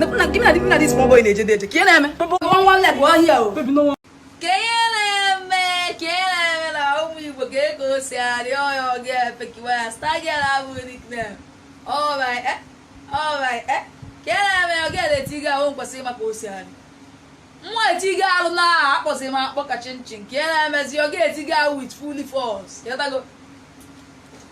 Give me na this small boy na-eje dị eje ka ị na-eme one one leg one here o ka ihe na-eme ka ihe na-eme na ụmụ Igbo ka ego si arịọ ọya ọ gị efekiwa ya stagiara abụ nickname alright eh alright eh ka ihe na-eme ọ gị eletiga ahụ nkwesịrị maka osiarị nwa etiga arụ na-akpọzi m akpọ ka chinchin ka ihe na-emezi ọ gị etiga ahụ with fully force ịghọtago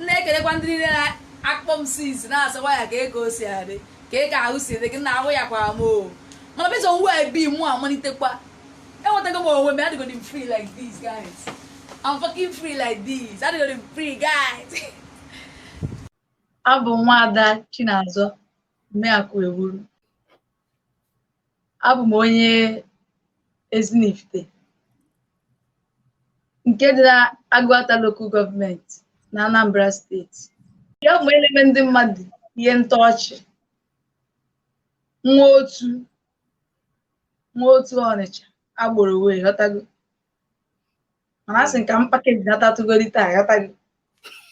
na-ekelekwa ndị niile na-akpọ m sis na-asị waya ka ego si adị kee ka ahụ si dị gị nna ahụ yakwara m o mana based on where I be mụ amalitekwa enwetago m onwe m adịgodi m free like this guys I'm fucking free like this adịgodi m free guys abụ m nwaada Chinazọ Mmeakụ Ewuru abụ m onye Ezinifite nke dị na Agụata Local Government na Anambra steeti ya m na-eme ndị mmadụ ihe ntọ ọchị nwa otu nwa otu Ọnịcha agboro way ịghọtago mana a sị m ka m pakeji natatụgodi taa ghọtago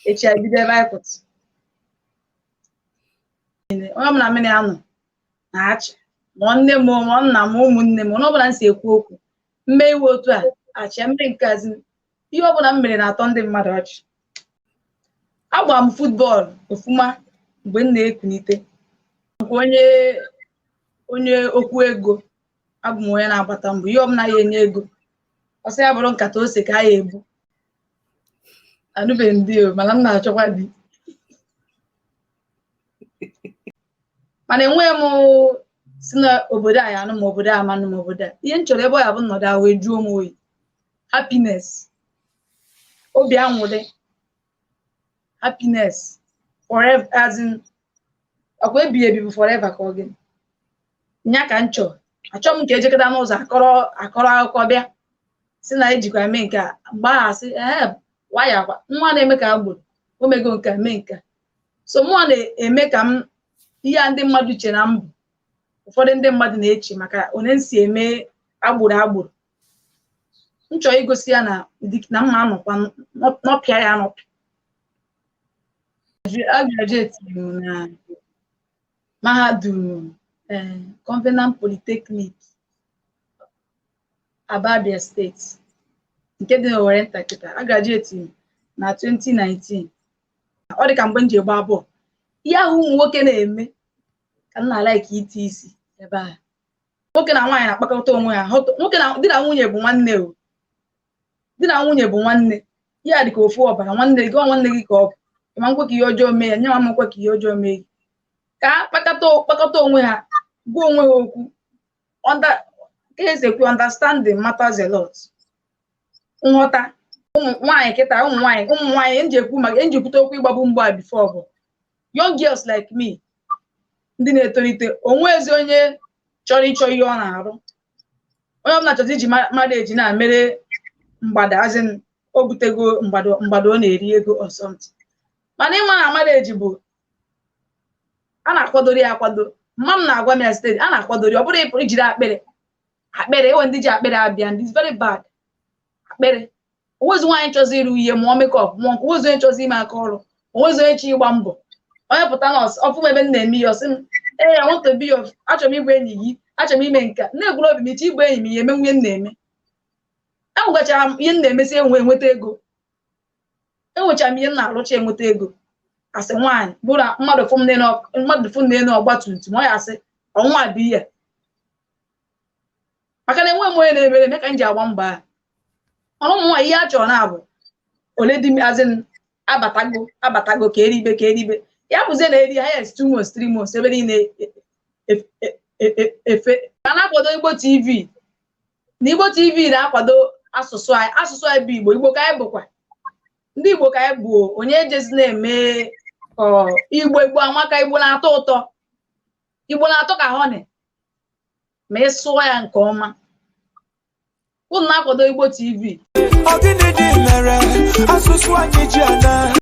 echi abido ebe anyị kwụsị onye ọbụla mụ na ya nọ na-achị ma nne m ma nna m ụmụnne m one ọbụla m si ekwu okwu m mee ihe otu a achịa m mee nke a as in ihe ọbụla m mere na-atọ ndị mmadụ ọchị agba m futbọọlụ ofuma mgbe m na-ekunite nke onye onye okwu ego abụ m onye na-agbata mbọ ihe ọbụla ya-enye ego ọ sị ya bụrụ nkata ose ka a ya-ebu anụbeghị m di o mana m na-achọkwa di mana enweghị m sị na obodo a ya-anụ m obodo a ma anụ m obodo a ihe m chọrọ ebe ọ ya-abụ m nọdụ ahụ ejuo m oyi happiness obi anwụrị happiness forever as in ọkwa ebighị ebi bụ forever ka ọ gịnị nya ka m chọrọ achọghị m nke ejekata n'ụzọ akọrọ akọrọ akụkọ bịa sị na ejikwa mee nke a mgbe ahụ asị ee waya kwa nwa na-eme ka agboro o mego nke a, mee nke a. so mụnwa na-eme ka m ihe a ndị mmadụ che na m bụ ụfọdụ ndị mmadụ na-eche maka one m si eme agboro agboro m chọọ igosi ya na ụdị na mụwa nọkwa nọ- nọpịa ya anọpị a graduate m na mahadum eh, Covenant Polytechnic Aba Abia steeti nke dị n'Owerrinta kịta a graduate m na 2019 ọ dị ka mgbe m ji gbaa bọọlụ ihe ahụ ụmụ nwoke na-eme ka m na-alaiki iti isi ebe ahụ nwoke na nwaanyị na-akpakọta onwe ha hụtụ- nwoke na di na nwunye bụ nwanne o di na nwunye bụ nwanne ihe a dị ka ofu ọbara nwanne gị ọ nwanne gị ka ọ bụ ịma nkwe ka ihe ọjọọ mee ya nya ama nkwe ka ihe ọjọọ mee gị ka ha kpakọta kpakọta onwe ha gwa onwe ha okwu under eziokwu understanding matters a lot nghọta ụmụ nwaanyị kịta ụmụ nwaanyị ụmụ nwaanyị nji ekwu maka nji ekwute okwu ịgbabu mbọ a before bụ young girls like me ndị na-etolite onwezi onye chọrọ ịchọ ihe ọ na-arụ onye ọbụla chọzi iji ma- mmadụ eji na-emere mgbado as in o butego mgbado mgbado ọ na-eri ego or something mana ịma na mmadụ eji bụ a na-akwadoro ya akwado mama m na-agwa m ya steady a na-akwadoro ya ọ bụrụ ịpụ ijiri akpịrị akpịrị enwe ndị ji akpịrị abịa ndị is very bad akpịrị onwezi nwaanyị chọzi ịrụ ihe mụọ makeup mụọ nke onwezi onye chọzi ime aka ọrụ onwezi onye chọ ịgba mbọ onye pụta nọọsụ ọfụ m ebe m na-eme ya ọsị m ee I want to be your achọrọ m ịbụ enyi gị achọrọ m ime nke a na-egwuru obi m ị chọ ịbụ enyi m ya eme nụ ihe m na-eme enwegachara m ihe m na-emesi enwe enweta ego enwechara m ihe m na-arụcha enweta ego asị nwaanyị bụ na mmadụ fụ m n'elu ọk- mmadụ fụ m n'elu ọgba tum tum ọ ya asị ọnwa bụ ihe maka na enweghị m onye na-emere eme ka m ji agba mbọ ahụ mana ụmụ nwaanyị ihe a chọrọ na-abụ ole di m as in abatago abatago ka eribe ka eribe ya bụzie na eri highest two months three months ebe niile e- e- e- e- efe ka na-akwado igbo tv na Igbo TV na-akwado asụsụ anyị asụsụ anyị bụ Igbo Igbo ka anyị bụkwa ndị Igbo ka anyị bụ onye ejezi na-eme Igbo Igbo amaka Igbo na-atọ ụtọ Igbo na-atọ ka honey ma ị sụọ ya nke ọma unu na-akwado Igbo TV